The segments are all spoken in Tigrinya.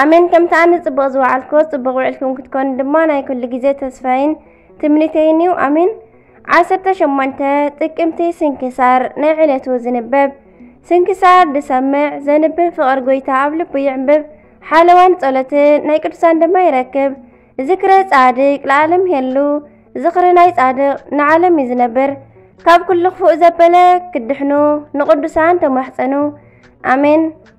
ኣሜን ከምቲ ኣነ ጽቡቕ ዝወዓልክዎ ጽቡቕ ውዕልኩም ክትኮኑ ድማ ናይ ኩሉ ግዜ ተስፋይን ትምኒተይን እዩ ኣሜን ዓሰርተ ሸሞንተ ጥቅምቲ ስንክሳር ናይ ዕለቱ ዝንበብ ስንክሳር ዝሰምዕ ዘንብብ ፍቕሪ ጎይታ ኣብ ልቡ ይዕንብብ ሓለዋን ጸሎትን ናይ ቅዱሳን ድማ ይረክብ ዝክረ ጻድቅ ለዓለም የሉ ዝኽሪ ናይ ጻድቅ ንዓለም እዩ ዝነብር ካብ ኩሉ ክፉእ ዘበለ ክድሕኑ ንቅዱሳን ተማሕፀኑ ኣሜን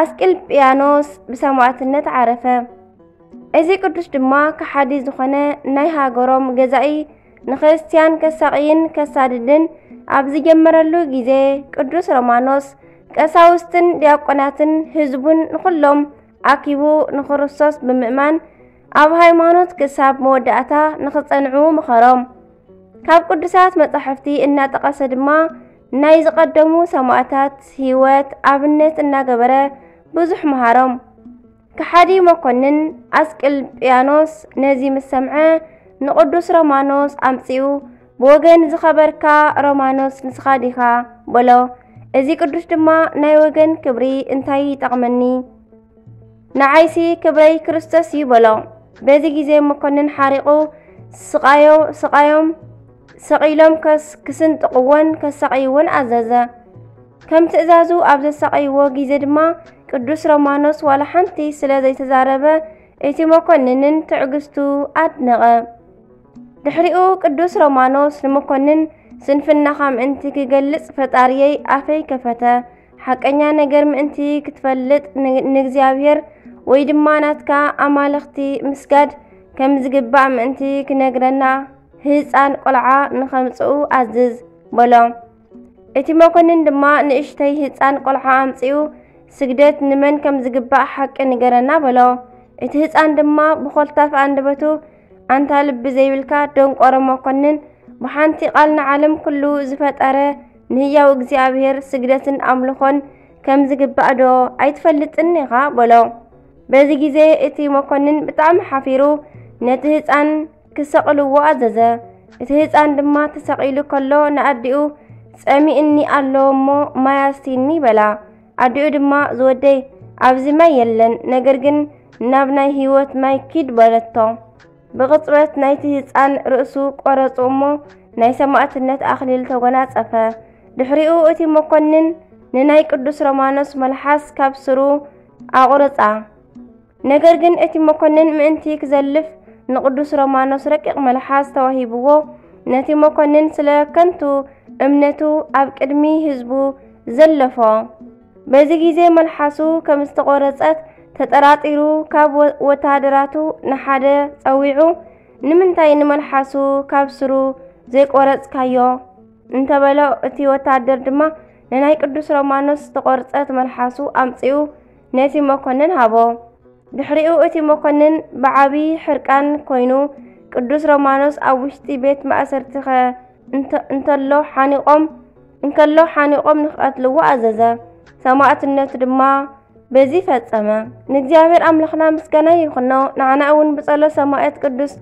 ኣስቅልጵያኖስ ብሰማዕትነት ዓረፈ። እዚ ቅዱስ ድማ ከሓዲ ዝኾነ ናይ ሃገሮም ገዛኢ ንክርስትያን ከሳቕይን ከሳድድን ኣብ ዝጀመረሉ ግዜ ቅዱስ ሮማኖስ ቀሳውስትን ዲያቆናትን ህዝቡን ንኹሎም ኣኪቡ ንክርስቶስ ብምእማን ኣብ ሃይማኖት ክሳብ መወዳእታ ንክጸንዑ ምኸሮም። ካብ ቅዱሳት መጻሕፍቲ እናጠቐሰ ድማ ናይ ዝቐደሙ ሰማእታት ህይወት ኣብነት እናገበረ ብዙሕ መሃሮም። ከሓዲ መኮንን ኣስቅልጵያኖስ ነዚ ምስ ሰምዐ ንቕዱስ ሮማኖስ ኣምጺኡ ብወገን ዝኸበርካ ሮማኖስ ንስኻ ዲኻ በሎ። እዚ ቅዱስ ድማ ናይ ወገን ክብሪ እንታይ ይጠቕመኒ? ንዓይሲ ክብረይ ክርስቶስ እዩ በሎ። በዚ ግዜ መኮንን ሓሪቑ ስቓዮ ስቓዮም ስቕ ኢሎም ከስ ክስንጥቕዎን ከሳቐይዎን ኣዘዘ። ከም ትእዛዙ ኣብ ዘሳቐይዎ ግዜ ድማ ቅዱስ ሮማኖስ ዋላ ሓንቲ ስለ ዘይተዛረበ እቲ መኮንንን ትዕግስቱ ኣድነቐ። ድሕሪኡ ቅዱስ ሮማኖስ ንመኮንን ስንፍናኻ ምእንቲ ክገልጽ ፈጣሪየይ ኣፈይ ከፈተ፣ ሓቀኛ ነገር ምእንቲ ክትፈልጥ ንእግዚኣብሔር ወይ ድማ ናትካ ኣማልኽቲ ምስጋድ ከም ዝግባእ ምእንቲ ክነግረና ህፃን ቆልዓ ንኸምፅኡ ኣዝዝ በሎ። እቲ መኮንን ድማ ንእሽተይ ህፃን ቆልዓ ኣምፅኡ ስግደት ንመን ከም ዝግባእ ሓቂ ንገረና በሎ። እቲ ህፃን ድማ ብኾልታፍ ኣንደበቱ ኣንታ ልቢ ዘይብልካ ደንቆሮ መኮንን ብሓንቲ ቃል ንዓለም ኩሉ ዝፈጠረ ንህያው እግዚኣብሔር ስግደትን ኣምልኾን ከም ዝግባእ ዶ ኣይትፈልጥን ኢኻ በሎ። በዚ ግዜ እቲ መኮንን ብጣዕሚ ሓፊሩ ነቲ ህፃን ክሰቕልዎ ኣዘዘ። እቲ ህፃን ድማ ተሰቒሉ ከሎ ንኣዲኡ ጸሚእኒ ኣሎ እሞ ማይ ኣስቲኒ በላ። ኣዲኡ ድማ ዝወደይ ኣብዚ ማይ የለን፣ ነገር ግን ናብ ናይ ህይወት ማይ ኪድ በለቶ። ብቕጽበት ናይቲ ህፃን ርእሱ ቆረጹ እሞ ናይ ሰማእትነት ኣኽሊል ተጎናጸፈ። ድሕሪኡ እቲ መኮንን ንናይ ቅዱስ ሮማኖስ መልሓስ ካብ ስሩ ኣቑርጻ። ነገር ግን እቲ መኮንን ምእንቲ ክዘልፍ ንቅዱስ ሮማኖስ ረቂቕ መልሓስ ተዋሂብዎ ነቲ መኮንን ስለ ከንቱ እምነቱ ኣብ ቅድሚ ህዝቡ ዘለፎ። በዚ ግዜ መልሓሱ ከም ዝተቖረጸት ተጠራጢሩ ካብ ወተሃደራቱ ንሓደ ጸዊዑ ንምንታይ ንመልሓሱ ካብ ስሩ ዘይቆረጽካዮ እንተበሎ እቲ ወተሃደር ድማ ንናይ ቅዱስ ሮማኖስ ዝተቖርጸት መልሓሱ ኣምጺኡ ነቲ መኮንን ሃቦ። ድሕሪኡ እቲ መኮንን ብዓብዪ ሕርቃን ኮይኑ ቅዱስ ሮማኖስ ኣብ ውሽጢ ቤት ማእሰርቲ ኸ እንተሎ ሓኒቖም እንከሎ ሓኒቖም ንክቐትልዎ ኣዘዘ። ሰማዕትነቱ ድማ በዚ ፈጸመ። ንእግዚኣብሔር ኣምላኽና ምስጋና ይኹኖ፣ ንዓና እውን ብጸሎት ሰማዕት ቅዱስ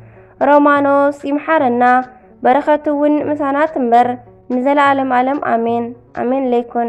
ሮማኖስ ይምሓረና፣ በረኸቱ እውን ምሳና ትንበር ንዘለዓለም ዓለም ኣሜን። ኣሜን ለይኩን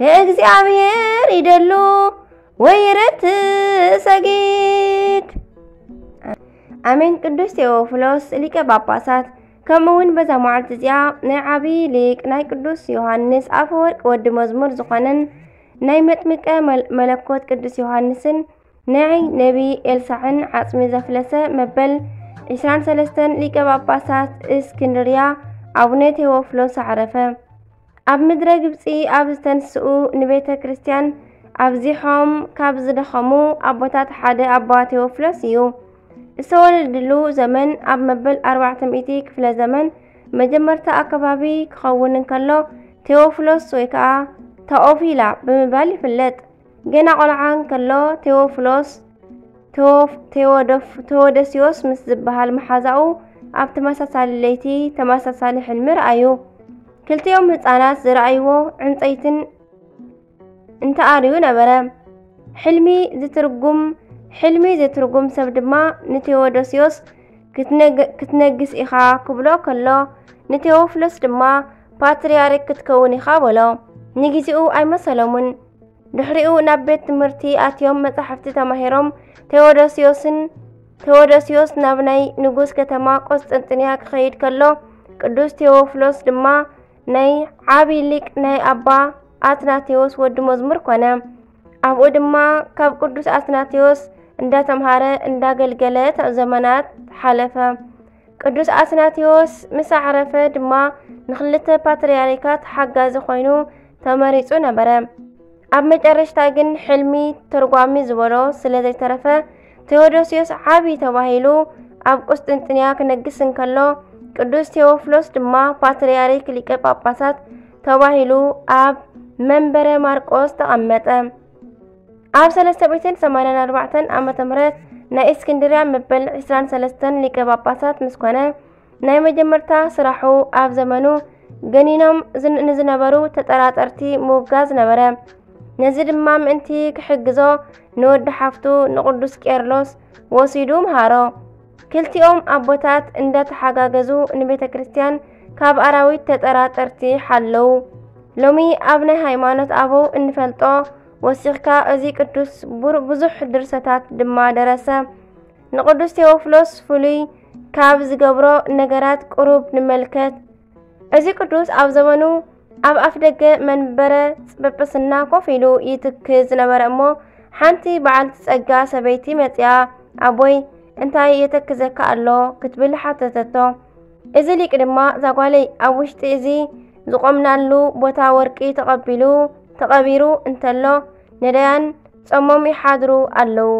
ንእግዚኣብሔር ይደሉ ወይረት ሰጊድ ኣሜን። ቅዱስ ቴዎፍሎስ ሊቀ ጳጳሳት ከምኡ እውን በዛ መዓልቲ እዚኣ ናይ ዓብዪ ሊቅ ናይ ቅዱስ ዮሃንስ ኣፈወርቅ ወዲ መዝሙር ዝኾነን ናይ መጥምቀ መለኮት ቅዱስ ዮሃንስን ናይ ነቢ ኤልሳዕን ዓጽሚ ዘፍለሰ መበል 23 ሊቀ ጳጳሳት እስክንድርያ ኣቡነ ቴዎፍሎስ ኣዕረፈ። ኣብ ምድረ ግብፂ ኣብ ዝተንስኡ ንቤተ ክርስቲያን ኣብዚሖም ካብ ዝደኸሙ ኣቦታት ሓደ ኣባ ቴዎፍሎስ እዩ። ዝተወለድሉ ዘመን ኣብ መበል 400 ክፍለ ዘመን መጀመርታ ኣከባቢ ክኸውን እንከሎ ቴዎፍሎስ ወይ ከዓ ታኦፊላ ብምባል ይፍለጥ። ገና ቆልዓ እንከሎ ቴዎፍሎስ ቴዎደስዮስ ምስ ዝበሃል መሓዛኡ ኣብ ተመሳሳሊ ለይቲ ተመሳሳሊ ሕልሚ ረኣዩ። ክልቲኦም ህፃናት ዝረኣይዎ ዕንፀይትን እንተኣርዩ ነበረ። ሕልሚ ዝትርጉም ሕልሚ ዝትርጉም ሰብ ድማ ንቴዎዶስዮስ ክትነግስ ኢኻ ክብሎ ከሎ ንቴዎፍሎስ ድማ ፓትርያርክ ክትከውን ኢኻ በሎ። ንግዚኡ ኣይመሰሎምን። ድሕሪኡ ናብ ቤት ትምህርቲ ኣትዮም መጻሕፍቲ ተማሂሮም ቴዎዶስዮስን ቴዎዶስዮስ ናብ ናይ ንጉስ ከተማ ቆስጠንጥንያ ክኸይድ ከሎ ቅዱስ ቴዎፍሎስ ድማ ናይ ዓቢ ሊቅ ናይ ኣባ ኣትናቴዎስ ወዲ መዝሙር ኮነ። ኣብኡ ድማ ካብ ቅዱስ ኣትናቴዎስ እንዳተምሃረ እንዳገልገለ ዘመናት ሓለፈ። ቅዱስ ኣትናቴዎስ ምስ ኣዕረፈ ድማ ንክልተ ፓትርያርካት ሓጋዚ ኮይኑ ተመሪጹ ነበረ። ኣብ መጨረሽታ ግን ሕልሚ ተርጓሚ ዝበሎ ስለ ዘይተረፈ ቴዎዶስዮስ ዓብዪ ተባሂሉ ኣብ ቁስጥንጥንያ ክነግስ እንከሎ ቅዱስ ቴዎፍሎስ ድማ ፓትርያርክ ሊቀ ጳጳሳት ተባሂሉ ኣብ መንበረ ማርቆስ ተቐመጠ። ኣብ 384 ዓመተ ምህረት ናይ እስክንድርያ መበል 23 ሊቀ ጳጳሳት ምስ ኮነ ናይ መጀመርታ ስራሑ ኣብ ዘመኑ ገኒኖም ንዝነበሩ ተጠራጠርቲ ምውጋዝ ነበረ። ነዚ ድማ ምእንቲ ክሕግዞ ንወዲ ሓፍቱ ንቅዱስ ቄርሎስ ወሲዱ ምሃሮ። ክልቲኦም ኣቦታት እንዳተሓጋገዙ ንቤተ ክርስቲያን ካብ ኣራዊት ተጠራጠርቲ ሓለው። ሎሚ ኣብ ናይ ሃይማኖት ኣበው እንፈልጦ ወሲኽካ እዚ ቅዱስ ብዙሕ ድርሰታት ድማ ደረሰ። ንቅዱስ ቴዎፍሎስ ፍሉይ ካብ ዝገብሮ ነገራት ቅሩብ ንመልከት። እዚ ቅዱስ ኣብ ዘመኑ ኣብ ኣፍ ደገ መንበረ ጵጵስና ኮፍ ኢሉ ይትክ ዝነበረ እሞ ሓንቲ በዓልቲ ጸጋ ሰበይቲ መጽያ ኣቦይ እንታይ የተክዘካ ኣሎ ክትብል ሓተተቶ። እዚ ሊቅ ድማ ዛጓለይ ኣብ ውሽጢ እዚ ዝቆምናሉ ቦታ ወርቂ ተቐቢሉ ተቐቢሩ እንተሎ ነዳያን ጸሞም ይሓድሩ ኣለዉ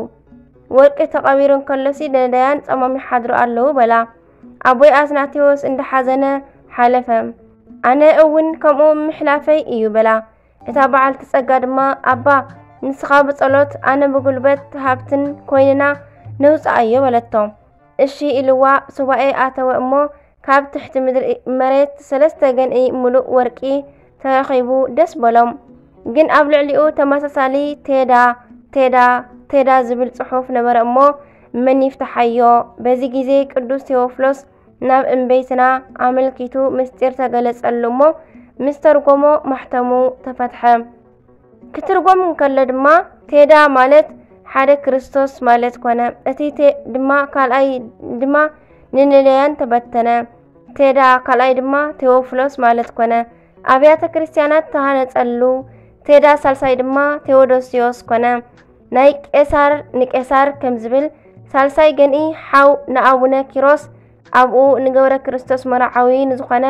ወርቂ ተቐቢሩ እንከሎሲ ነዳያን ጸሞም ይሓድሩ ኣለዉ በላ። ኣቦይ ኣትናቴዎስ እንዳሓዘነ ሓለፈ። ኣነ እውን ከምኡ ምሕላፈይ እዩ በላ። እታ በዓልቲ ጸጋ ድማ ኣባ ንስኻ ብጸሎት ኣነ ብጉልበት ሃብትን ኮይንና ነውጽኣዮ በለቶ። እሺ ኢልዋ ሱባኤ ኣተወ እሞ ካብ ትሕቲ ምድሪ መሬት ሰለስተ ገንኢ ምሉእ ወርቂ ተረኺቡ ደስ በሎም። ግን ኣብ ልዕሊኡ ተመሳሳሊ ቴዳ ቴዳ ቴዳ ዝብል ጽሑፍ ነበረ እሞ መን ይፍትሓዮ? በዚ ግዜ ቅዱስ ቴዎፍሎስ ናብ እምበይትና ኣመልኪቱ ምስጢር ተገለጸሉ እሞ ምስ ተርጎሞ ማሕተሙ ተፈትሐ። ክትርጎም እንከሎ ድማ ቴዳ ማለት ሓደ ክርስቶስ ማለት ኮነ እቲ ቴ ድማ ካልኣይ ድማ ንንለያን ተበተነ ቴዳ ካልኣይ ድማ ቴዎፍሎስ ማለት ኮነ ኣብያተ ክርስቲያናት ተሃነጸሉ ቴዳ ሳልሳይ ድማ ቴዎዶስዮስ ኮነ ናይ ቄሳር ንቄሳር ከም ዝብል ሳልሳይ ገንኢ ሓው ንኣቡነ ኪሮስ ኣብኡ ንገብረ ክርስቶስ መርዓዊ ንዝኾነ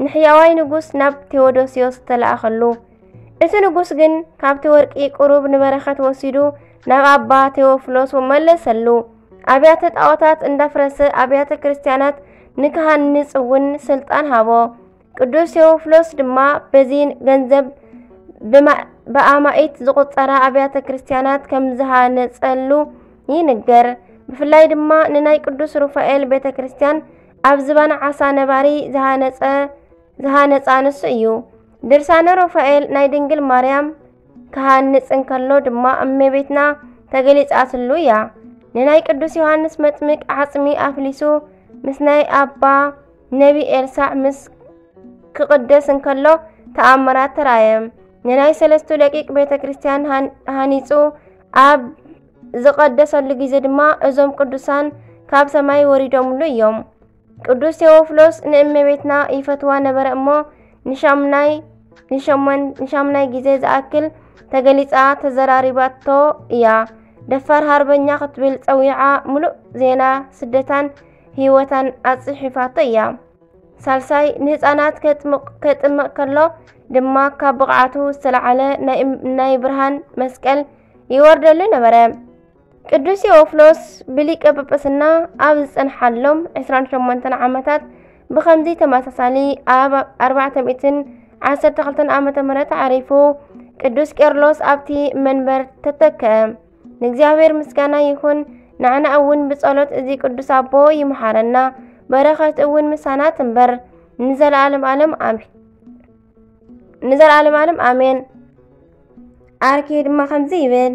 ንሕያዋይ ንጉስ ናብ ቴዎዶስዮስ ተለኣኸሉ እቲ ንጉስ ግን ካብቲ ወርቂ ቁሩብ ንበረኸት ወሲዱ ናብ ኣባ ቴዎፍሎስ መለሰሉ። ኣብያተ ጣዖታት እንዳፍረሰ ኣብያተ ክርስቲያናት ንክሃንጽ እውን ስልጣን ሃቦ። ቅዱስ ቴዎፍሎስ ድማ በዚ ገንዘብ ብኣማኢት ዝቑጸራ ኣብያተ ክርስቲያናት ከም ዝሃነጸሉ ይንገር። ብፍላይ ድማ ንናይ ቅዱስ ሩፋኤል ቤተ ክርስቲያን ኣብ ዝባን ዓሳ ነባሪ ዝሃነጸ ዝሃነጻ ንሱ እዩ። ድርሳነ ሮፋኤል ናይ ድንግል ማርያም ክሃንጽ እንከሎ ድማ እመቤትና ተገሊጻትሉ እያ። ንናይ ቅዱስ ዮሃንስ መጥምቅ ዓጽሚ ኣፍሊሱ ምስ ናይ ኣባ ነቢ ኤልሳዕ ምስ ክቕደስ እንከሎ ተኣምራት ተራእየ። ንናይ ሰለስቱ ደቂቅ ቤተ ክርስቲያን ሃኒጹ ኣብ ዝቐደሰሉ ግዜ ድማ እዞም ቅዱሳን ካብ ሰማይ ወሪዶምሉ እዮም። ቅዱስ ቴዎፍሎስ ንእመቤትና ይፈትዋ ነበረ እሞ ንሻምናይ ንሻምናይ ግዜ ዝኣክል ተገሊጻ ተዘራሪባቶ እያ። ደፋር ሃርበኛ ክትብል ጸዊዓ ምሉእ ዜና ስደታን ህይወታን ኣጽሒፋቶ እያ። ሳልሳይ ንህፃናት ከጥምቕ ከሎ ድማ ካብ ብቕዓቱ ዝተለዓለ ናይ ብርሃን መስቀል ይወርደሉ ነበረ። ቅዱስ ቴዎፍሎስ ብሊቀ ጵጵስና ኣብ ዝጸንሓሎም 28 ዓመታት ብኸምዚ ተመሳሳሊ ኣብ 412 ዓመተ ምህረት ዓሪፉ ቅዱስ ቄርሎስ ኣብቲ መንበር ተተከ። ንእግዚኣብሔር ምስጋና ይኹን። ንዓና እውን ብጸሎት እዚ ቅዱስ ኣቦ ይምሓረና፣ በረኸት እውን ምሳና ትንበር ንዘለዓለም ዓለም ኣሜን። ንዘለዓለም ዓለም ኣሜን። ኣርኪ ድማ ከምዚ ይብል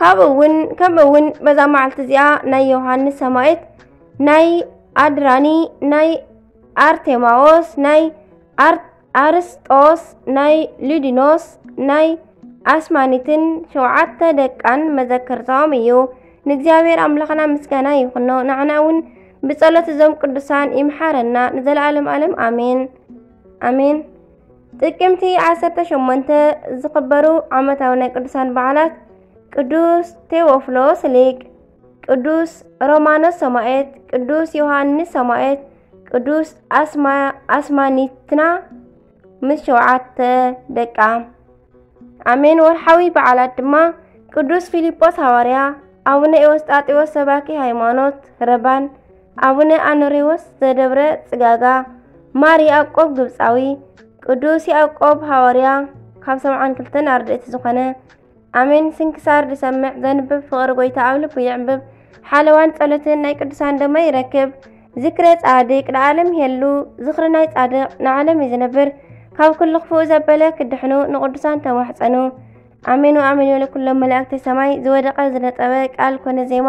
ካብኡ እውን ከምኡ እውን በዛ መዓልቲ እዚኣ ናይ ዮሃንስ ሰማዒት ናይ ኣድራኒ ናይ ኣርቴማዎስ ናይ ኣርስጦስ ናይ ሊዲኖስ ናይ ኣስማኒትን ሸውዓተ ደቃን መዘከርታኦም እዩ ንእግዚኣብሔር ኣምላኽና ምስጋና ይኹኖ ንዓና እውን ብጸሎት እዞም ቅዱሳን ይምሓረና ንዘለዓለም ዓለም ኣሜን ኣሜን ጥቅምቲ 18 ዝኽበሩ ዓመታዊ ናይ ቅዱሳን በዓላት ቅዱስ ቴዎፍሎስ ሊቅ፣ ቅዱስ ሮማኖስ ሰማኤት፣ ቅዱስ ዮሐንስ ሰማኤት፣ ቅዱስ ኣስማኒትና ምስ ሸውዓተ ደቃ። ኣሜን ወርሓዊ በዓላት ድማ ቅዱስ ፊልጶስ ሃዋርያ፣ ኣቡነ ኤዎስጣቴዎስ ሰባኪ ሃይማኖት ረባን ኣቡነ ኣኖሬዎስ ዘደብረ ጽጋጋ፣ ማር ያዕቆብ ግብጻዊ፣ ቅዱስ ያዕቆብ ሃዋርያ ካብ ሰብዓን ክልተን ኣርድእቲ ዝኾነ ኣሜን ስንክሳር ዝሰምዕ ዘንብብ ፍቕሪ ጎይታ ኣብ ልቡ ይዕምብብ ሓለዋን ጸሎትን ናይ ቅዱሳን ደማ ይረክብ ዝክረ ጻድቅ ንዓለም ይሄሉ ዝኽሪ ናይ ጻድቅ ንዓለም እዩ ዝነብር ካብ ኩሉ ክፉእ ዘበለ ክድሕኑ ንቅዱሳን ተማሕጸኑ ኣሜን ወኣሜን ወለኩሎም መላእክቲ ሰማይ ዝወደቀ ዝነጠበ ቃል ኮነ ዜማ